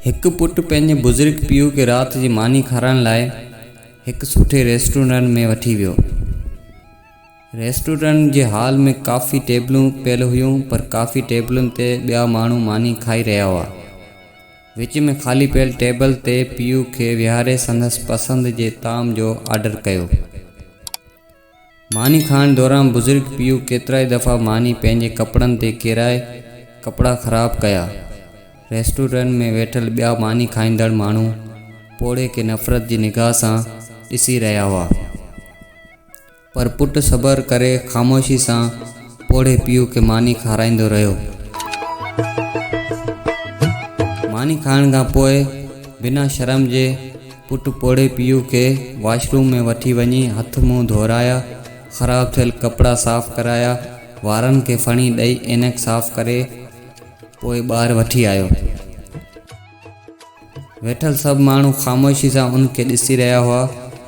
هڪ پٽ پنهنجي بزرگ پيء کي رات جي ماني کارائڻ لاء هڪ سٺي ريسٽورنٽ ۾ وٺي ويو. ريسٽورنٽ جي هال ۾ ڪافي ٽيبلون پيل هيون پر ڪافي ٽيبلن تي ٻيا ماڻهو ماني کائي رهيا هئا. وچ ۾ خالي پيل ٽيبل تي پيء کي ويهاري سندس پسند جي طعام جو آرڊر ڪيو. ماني کائڻ دوران بزرگ پيو ڪيترائي دفعا ماني پنهنجي ڪپڙن تي ڪيرائي ڪپڙا خراب ڪيا. ريسٽورنٽ ۾ ويٺل ٻيا ماني کائيندڙ ماڻهو پوڙهي کي نفرت جي نگاهه سان ڏسي رهيا هئا. پر پٽ صبر ڪري خاموشي سان پوڙهي پيو کي ماني کارائيندو رهيو. ماني کائڻ کان پوء بنا شرم جي پٽ پوڙهي پيء کي واش روم ۾ وٺي وڃي هٿ منهن ڌورايا، خراب ٿيل ڪپڙا صاف ڪرايا، وارن کي ڦڻي ڏئي عينڪ صاف ڪري پوء ٻاهر وٺي آيو. ويٺل سڀ ماڻهو خاموشي سان ان کي ڏسي رهيا هئا.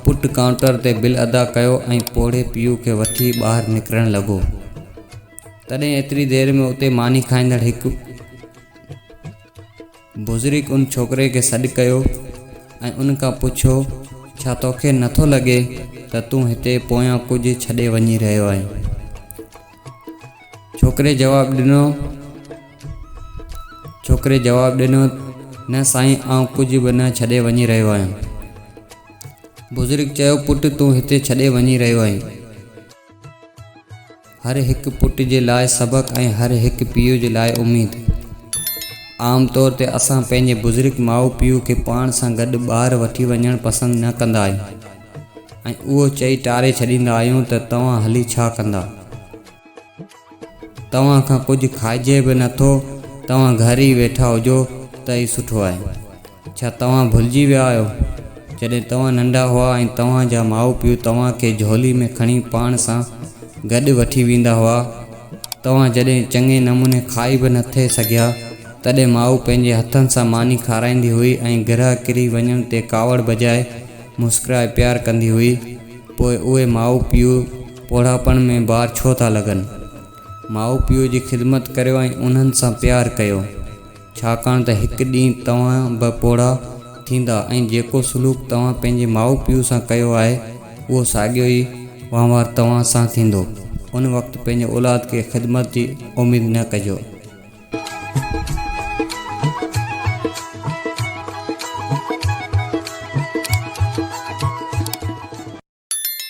پٽ ڪائونٽر تي بل ادا ڪيو ۽ پوڙهي پيء کي وٺي ٻاهر نڪرڻ لڳو. تڏهن ايتري دير ۾ اتي ماني کائيندڙ هڪ. بزرگ ان ڇوڪري کي سڏ ڪيو ۽ ان کان پڇيو، ڇا توکي نه ٿو لڳي ته تون هتي پويان ڪجهه ڇڏي وڃي رهيو آهين؟ ڇوڪري جواب ڏنو ڇوڪري جواب ڏنو، نه سائين آئون ڪجهه به نه ڇڏي وڃي رهيو آهيان. بزرگ چيو، پٽ تون هتي ڇڏي وڃي رهيو آهين. هر هڪ پٽ جي لاء سبق ۽ هر هڪ پيء جي لاء اميد. عام طور تي اسان پنهنجي بزرگ ماء پيء کي پاڻ سان گڏ ٻاهر وٺي وڃڻ پسند نه ڪندا آهيون ۽ اهو چئي ٽاري ڇڏيندا آهيون ته توهان هلي ڇا ڪندا؟ توهان کان ڪجهه کائجي به نه ٿو، توهان گهر ئي ويٺا هجو ته ئي سٺو آهي. ڇا توهان ڀلجي ويا آهيو جڏهن توهان ننڍا هئا ۽ توهان جا ماء پيء توهان کي جهولي ۾ کڻي پاڻ سان گڏ وٺي ويندا هئا. توهان جڏهن چڱي نموني کائي به نه ٿي سگهيا تڏهن ماء پنهنجي هٿن سان ماني کارائيندي هئي ۽ گرهه ڪري وڃڻ تي ڪاوڙ بجاء مسڪرائي پيار ڪندي هئي. پوء اهي ماء پيء پوڙهاپڻ ۾ بار ڇو ٿا لڳن؟ ماء پيء جي خدمت ڪريو ۽ انهن سان پيار ڪيو. ڇاڪاڻ ته هڪ ڏينهن توهان به پوڙها ٿيندا ۽ جيڪو سلوڪ توهان پنهنجي ماء پيء سان ڪيو آهي، اهو ساڳيو ئي وهنوار توهان سان ٿيندو. ان وقت پنهنجي اولاد کي خدمت جي اميد نه ڪجو.